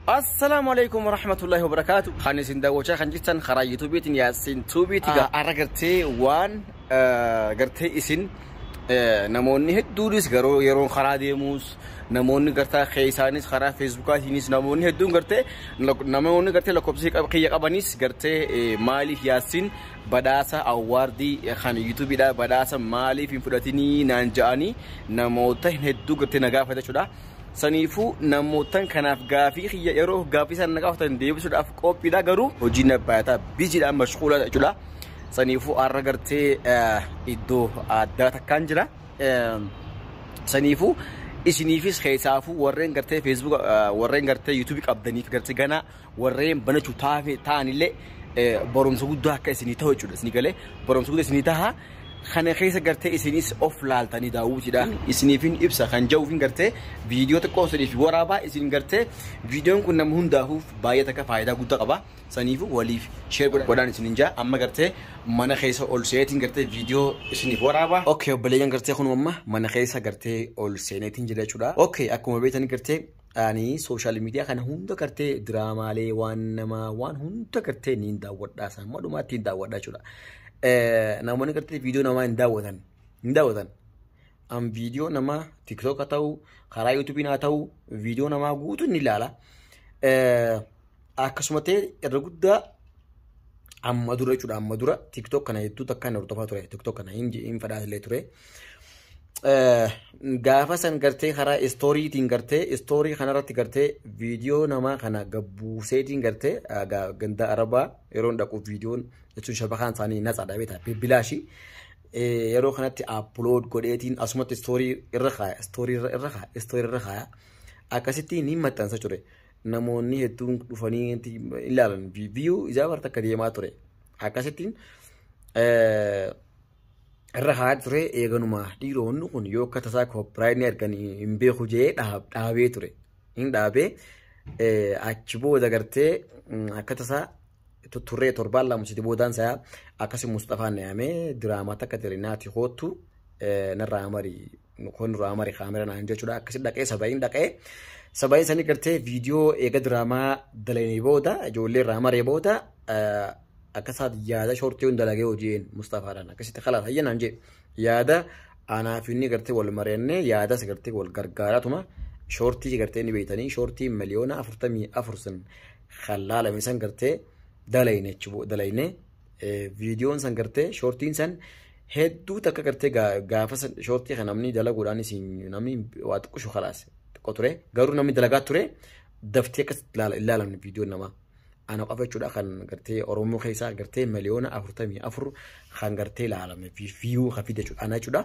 Assalaamu alaikum warahmatullahi wabarakatuh. Kan isin daawwachaa kan jirtan karaa yuutuubiitiin yaasiin tuubiiti. Har'a gartee waan gartee isin namoonni hedduunis garuu yeroon karaa deemuus namoonni gartaa keessaanis karaa feesbuukaatiinis namoonni hedduun gartee namoonni gartee lakkoofsi kiyya qabanis gartee maaliif yaasiin badhaasa awwaardii kan yuutuubiidhaa badhaasa maaliif hin fudhatinii naan ja'anii namoota hedduu gartee na gaafata jechuudha. Saniifuu namoottan kanaaf gaafii kiyya yeroo gaafii isaan na gaafatan deebisuudhaaf qophiidha garuu hojii na baayata bijiidhaan mashquula jechuudha. Saniifuu har'a gartee iddoo addaa takkaan jira. Saniifuu isiniifis keessaafuu warreen gartee feesbuuka warreen gartee yuutuubii qabdaniif gartee ganaa warreen banachu taafe ta'anillee barumsa guddaa akka isinii ta'u jechuudha isinii galee barumsa guddaa isinii taha kana keessa gartee isinis of laaltanii daawwitidha isiniifin ibsa kan ja'uufin gartee viidiyoo xiqqoo isiniif waraabaa isin gartee viidiyoon kun nama hundaafuuf baay'ee takka faayidaa guddaa qaba saniifu waliif sheer godhaan isinin ja'a amma gartee mana keessa ol seeneetiin gartee viidiyoo isiniif waraabaa okay obboleeyyan gartee kun amma mana keessa gartee ol seeneetiin jira jechuudha okay akkuma beektan gartee Ani sooshaal miidiyaa kana hunda gartee diraamaalee waan namaa waan hunda gartee ni hin daawwadhaa isaan madhumaatti hin daawwadhaa jechuudha. Namoonni gartee viidiyoo namaa hin daawwatan hin daawwatan. An viidiyoo namaa tiktook haa ta'u karaa yuutuubiin haa ta'u viidiyoo namaa guutuu ni ilaala. akkasuma ta'e irra guddaa amma dura jechuudha amma dura tiktok kana hedduu takka hin hordofaa ture tiktok kana hin hin fadhaa illee ture. Eh, Gaafa san gartee karaa istooriitiin gartee istoorii kanarratti gartee viidiyoo namaa kana gabbuuseetiin gartee ah, ga- ganda arabaa yeroon dhaqu viidiyoon jechuun shabakaan isaanii natsa dhabeeta bibbilaashii. Eh, yeroo kanatti upload godheetiin asumatti istoorii irra kaaya istoorii irra irra kaaya istoorii irra kaaya akkasitti ni maxxansa ture namoonni hedduun dhufanii itti ilaalan viiyuu ijaa barta akka deemaa ture akkasittiin eh, irra haa ture eeganuma dhiiroonni kun yoo akka tasaa koopiraayinii argan hin beeku jee dhaab- dhaabee ture hin dhaabee eh, achi booda gartee mm, akka tasaa turree torbaan lama siti boodaan isaa akkasi Musxafaan na yaamee diraamaa takka jira naati hoottu narraa amari kun irraa amari kaamera naan jechuudha akkasi dhaqee saba'iin dhaqee saba'iin sanii gartee viidiyoo eega diraamaa dalanii booda ijoollee irraa amaree booda akkasaat yaada shortii hunda lagee hojiin Musxafaadhaan akkasitti kalaas hayya naan jee yaada anaaf inni gartee wal mari'annee yaadas gartee wal gargaaratuma shortii gartee ni beeytanii shortii miliyoona afurtamii afur sun kan laalame san gartee dalayne jechuudha dalayne viidiyoon san gartee shoortiin san hedduu takka gartee gaafa shoortii kan namni dalaguudhaan isin namni waa xiqqoo shokalaas xiqqoo ture garuu namni dalagaa ture daftee akkas ilaalamne viidiyoon namaa. Ana qofa jechuudha kan gartee Oromoo keessaa gartee miliyoona afurtamii afur kan gartee ilaalame viiyuu kan fide jechuudha ana jechuudha.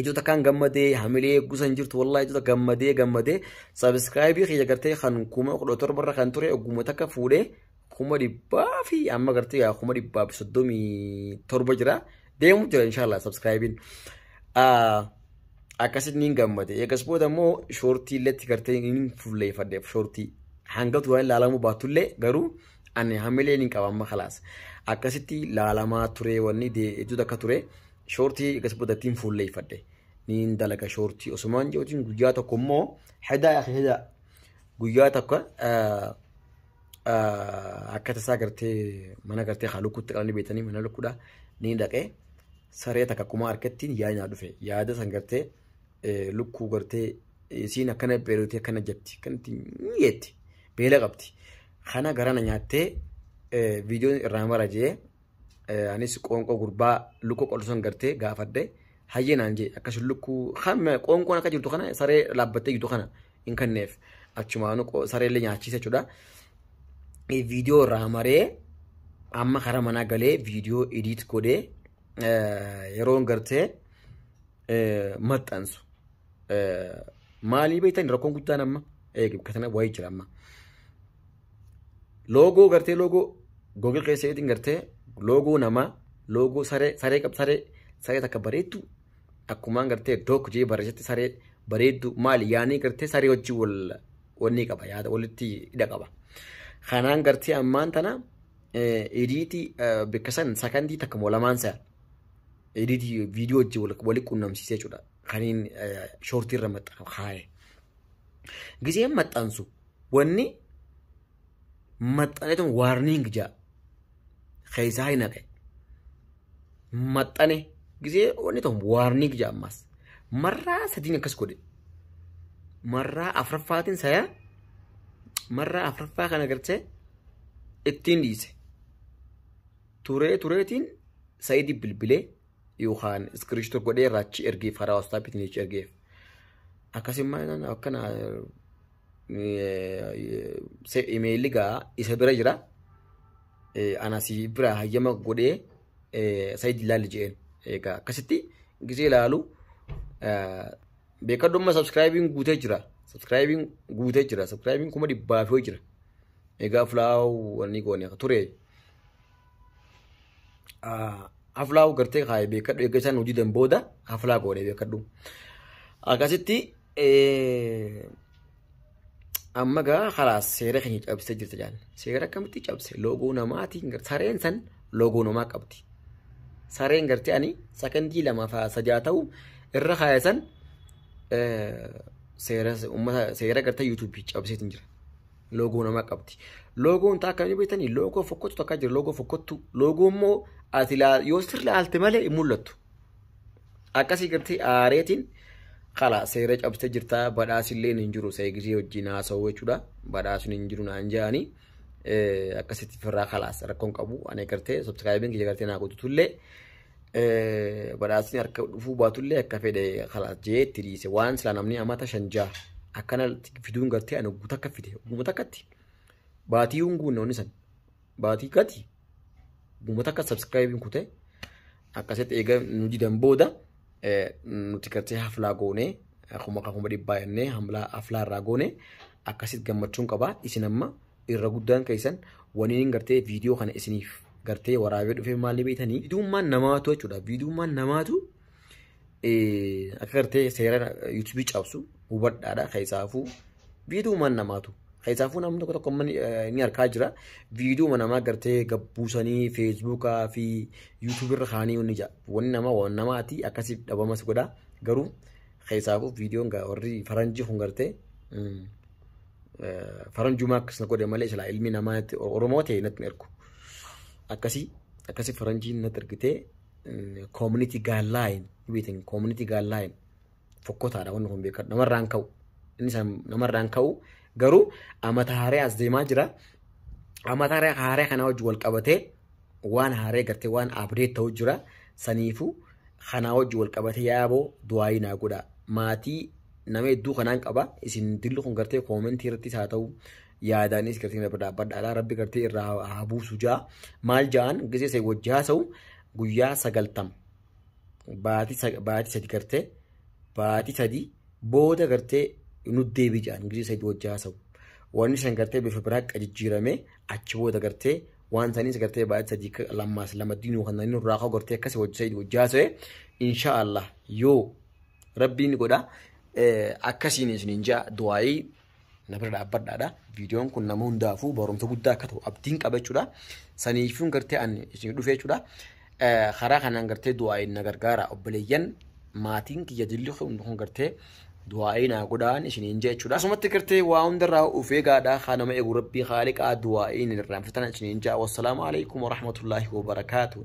Ijoo takkaan gammadee hamilee eeggusan jirtu wallaahi ijoo takka gammadee gammadee sabiskiraayibii kiyya gartee kan kuma kudha torba irra kan ture ogguma takka fuudhee kuma dhibbaa fi amma gartee yaa kuma dhibbaa fi soddomii torba jira deemu jira inshaallah sabiskiraayibiin. Akkasitti niin gammade eegas booda immoo shoortii illeetti gartee niin fulleeffadhe shoortii hanga duraan ilaalamuu baatullee garuu ani hamilee niin qaba amma kalaas akkasitti ilaalamaa ture wanni ijoo takka ture. Shoortii egas bodattiin fuulleeffadhe. Niin dalaga shoortii osumaan jiruutiin guyyaa tokko immoo hedaa yaa hedaa guyyaa tokko akka tasaa gartee mana gartee haa lukkuutti qabanii beekanii mana lukkuudha niin dhaqee saree takka akkuma harkattiin yaadni dhufe yaada san gartee lukkuu gartee isiin akkana beelotee akkana jetti akkanatti jetti beela qabdi kana garana nyaattee viidiyoon irraa mara jee Eh, anis qoonqoo gurbaa lukkuu qoltu san gartee gaafadhe hayyee naan jee akkasuma lukkuu kan qoonqoon akka jirtu kana saree dhaabbattee jirtu kana hin kenneef achumaanu qo- saree illee nyaachiisa jechuudha. Eh, Viidiyoo irraa maree amma karaa manaa galee viidiyoo ediit godhee eh, yeroon gartee eh, maxxansu. Eh, Maalii beektan rakkoon guddaan amma eegi kana wayii jira amma. Loogoo gartee loogoo Google keessa eetiin gartee loogoo namaa loogoo saree saree qab saree saree takka bareeddu akkumaan gartee dook jee barreessatti saree bareeddu maali yaanii gartee saree wajjin wal wanni qaba yaada walitti hidha qaba. Kanaan gartee ammaan tana ediitii bakka san sakandii takka moo lamaan sa'a ediitii viidiyoo wajjin wal qunnamsiisee jechuudha. Kaniin shoortii irra maxxansu kaa'e. Giseen maxxansu wanni maxxaneetu waarniing jaa keessaa hin haqe maxxane gisee wanni ta'u waarniing jaa ammaas marraa sadiin akkas godhe marraa afraffaatiin sayaa marraa afraffaa kana gartee ittiin dhiise turee tureetiin sayidii bilbilee yookaan iskiriishito godhee raachi ergeef karaa waastaapiitiin jecha ergeef akkasummaa akkana imeeyilli gaa isa bira jira. Ana si bira hayyama godhee sayid ilaalli jedheen. Egaa akkasitti gisee ilaalu beekadhumma sabskraayibiin guutee jira. Sabskraayibiin guutee jira. Sabskraayibiin kuma dhibbaa fi jira. Egaa fulaawuu wanni goone ture. Aflaawu gartee kaa'e beekadhu eeggasaan hojii dan booda aflaa goone beekadhu. Akkasitti amma gaa kalaas seera keenya cabsee jirta jaan seera akkamitti cabse loogoo namaatiin gar- sareen san loogoo namaa qabdi sareen gartee ani sakandii lama faa sajaa ta'u irra kaaya san eh, seera ummata seera gartee yuutuubii cabseetiin jira loogoo namaa qabdi loogoon taa akkamii beektanii loogoo fokkottu takkaa jira loogoo fokkottu loogoo immoo ati laa- yoo sirri laalte malee hin mul'attu Akkasii gartee aareetiin kala seera cabsite jirta badhaasilleen hin jiru seegisii wajjin haasa'u jechuudha badhaasni hin jiru naan ja'anii akkasitti firraa kalaas rakkoon qabu ani gartee subscribing kiyya gartee naa guddutullee badhaasni harka dhufuu baatullee akka fedhe kalaas jee itti dhiise waan silaa namni amata shan ja'a akkana fiduun gartee ani guutakka fide guutakka itti baatii hunguun noonni san baatii gati uummata akka sabskraayibiin kute akkasitti eega nu didan booda eh, nuti gartee haflaa goonee akkuma akka kuma dhibbaa jennee hamlaa- haflaa irraa goonee akkasitti gammachuun qabaa isin amma irra guddaan keessan waniin gartee viidiyoo kana isiniif gartee waraabee dhufee maalii beektanii viidiyummaan namaatu jechuudha viidiyummaan namaatu akka gartee seera yuutuubii cabsu hubadhaadha keessaafuu viidiyooma namaatu keessaafuu namni tokko tokko ni arkaa jira viidiyooma namaa gartee gabbuusanii feesbuukaa fi yuutuubirra kaanii ni jaa wanni namaa waan namaati akkasiif dhabamas godha garuu keessaafuu viidiyoon warri faranjii kun gartee faranjumaa akkas na godhe malee silaa ilmi namaa oromoo ta'e natti ergu akkasii akkasii faranjiin natti ergitee community guideline beetan community guideline fokkotaadha wanni kun beekadhu namarraan ka'u inni san namarraan ka'u garuu amata haaree as deemaa jira amata haaree haaree kana wajji wal qabatee waan haaree gartee waan abdeet ta'u jira saniifu kanaa wajji wal qabatee yaaboo du'aayii naa godha maatii nama hedduu kanaan qaba isin dilli kun gartee koomentii irrattis haa ta'u yaadaanis gartee na bira dhaabbadhaadha rabbi gartee irraa haa- haa buusu jaa maal jaan gisee isa wajji haasa'u guyyaa sagaltam baatii sa- baatii sadi gartee baatii sadi booda gartee nu deebii jaan gisee sadi wajji haasa'u wanni san gartee bifa biraa akka jijjiirame achi booda gartee waan saniis gartee baatii sadii ka- lammaas lama diinuu kan inni irraa ka'u gartee akkasii wajji sadi wajji haasa'e inshaallah yoo rabbiin godha eh, akkasiin isinin jaa du'aayii na bira dhaabbadhaadha. Viidiyoon kun nama hundaafuu barumsa guddaa akka ta'u abdiin qaba jechuudha. Saniifuun gartee an isin dhufee jechuudha. Karaa kanaan gartee du'aa'iin na gargaara obboleeyyan maatiin kiyya dilli kun gartee du'aa'ii naa godhaan isiniin jee jechuudha. Asumatti gartee waa hundarraa ufee gaadhaa haa nama eegu rabbii haaliqaa du'aa'iin irraanfatana isiniin jaa. Wassalaamu alaikum warahmatullaahi wabarakaatuh.